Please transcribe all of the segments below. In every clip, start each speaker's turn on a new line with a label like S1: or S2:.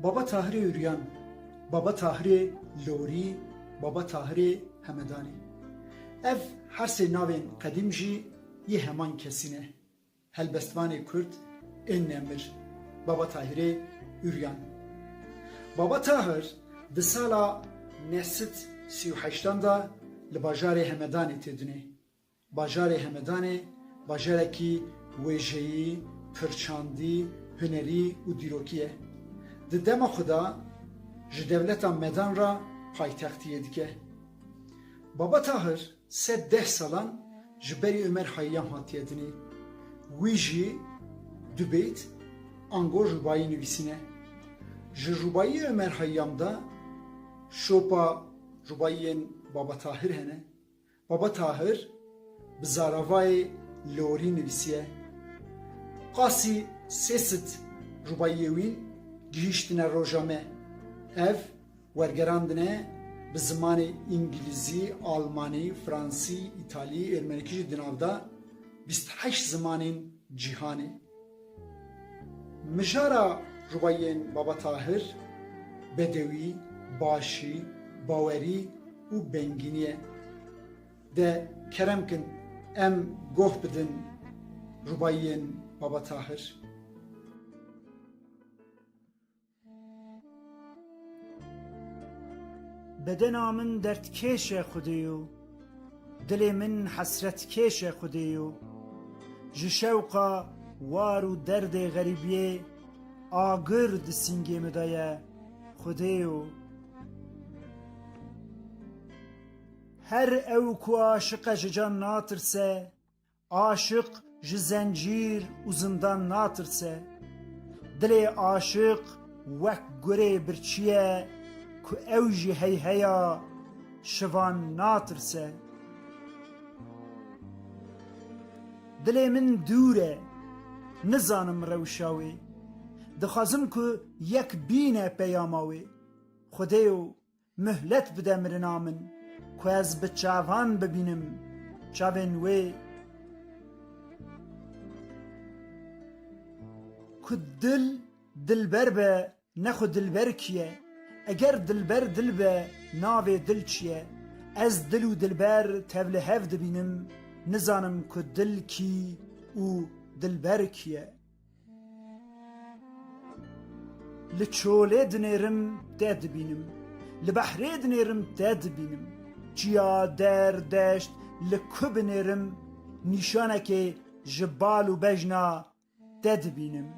S1: Baba Tahirê Üryan, Baba Tahirê Lorî, Baba Tahirê Hemedanî. Ev her sê navên qedîm jî yê heman kesî ne. Helbestvanê Kurd ên Nemir, Baba Tahirê Üryan. Baba Tahir di sala neh sed sî û heştan de li bajarê Hemedanê têdûnê. Bajarê Hemedanê bajarekî wêjeyî, pirçandî, hunerî û dîrokî ye. Di dema xwe de ji dewleta Medan re paytextiyê dike. Baba Tahir sed deh salan ji berî Omer Hayyam hatiye dinê. Wî jî du beyt ango rûbayî nivîsîne. Ji rûbayîyê Omer Hayyam de şopa rûbayîyên Baba Tahir hene. Baba Tahir bi zaravayê lorî nivîsiye, Qasî sê sit rûbayiyê wî gihîştine roja me. Ev wergerandine bi zimanê îngilîzî, almanî, fransî, îtalî, êrmenikî jî di nav de bîst heşt zimanên cîhanê. Mijara rubayiyên Baba Tahir, Bedewî, Başî, Bawerî û Bengînî ye. De kerem kin em goh bidin rubayiyên Baba Tahir.
S2: Bedena min derdkêş e Xwedê yo, dilê min hesretkêş e Xwedê yo, ji şewqa war û derdê xerîbiyê agir di sîngê min de ye Xwedê yo. Her ew ku aşiq e ji can natirse, Aşiq ji zencîr û zindan natirse. Dilê aşiq wek gurê birçî ye ku ew ji heyheya şivan natirse. Dilê min dûr e, nizanim rewşa wê. Dixwazim ku yek bîne peyama wê. Xwedêyo Muhlet bide mirina min ku ez bi çavan bibînim çavên wê ku dil dilber be ne xwe dilber kî ye eger dilber dil be navê dil çi ye ez dil û dilber tevlihev dibînim nizanim ku dil kî û dilber kî ye. Li çolê dinêrim te dibînim, li behrê dinêrim te dibînim, çiya, der, deşt li ku binêrim nîşanekê ji bal û bejna te dibînim.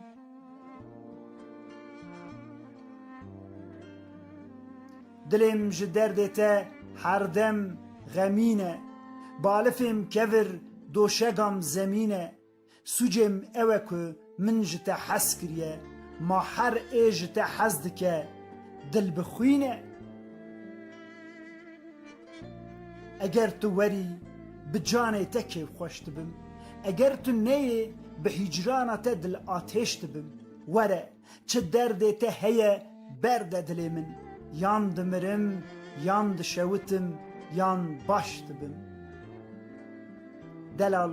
S2: Dilêm ji derdê te herdem xemîn e, balifêm kevir doşegam zemîn e. Sûcê min ew e ku min ji te hez kiriye, ma her ê ji te hez dike dil bixwîne. Eger tu werî bi canê te kêfxweş dibim, eger tu neyê bi hîcrana te dilatêş dibim. Were! Çi derdê te heye berde dilê min Yan dimirim yan dişewitim yan baş dibim Delal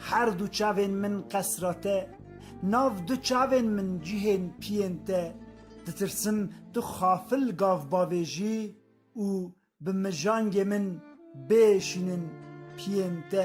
S2: herdû çavên min qesra te Nav du çavên min cihên piyên te Ditirsim tu xafil gav bavê jî Û bi mijangê min bê şînin piyên te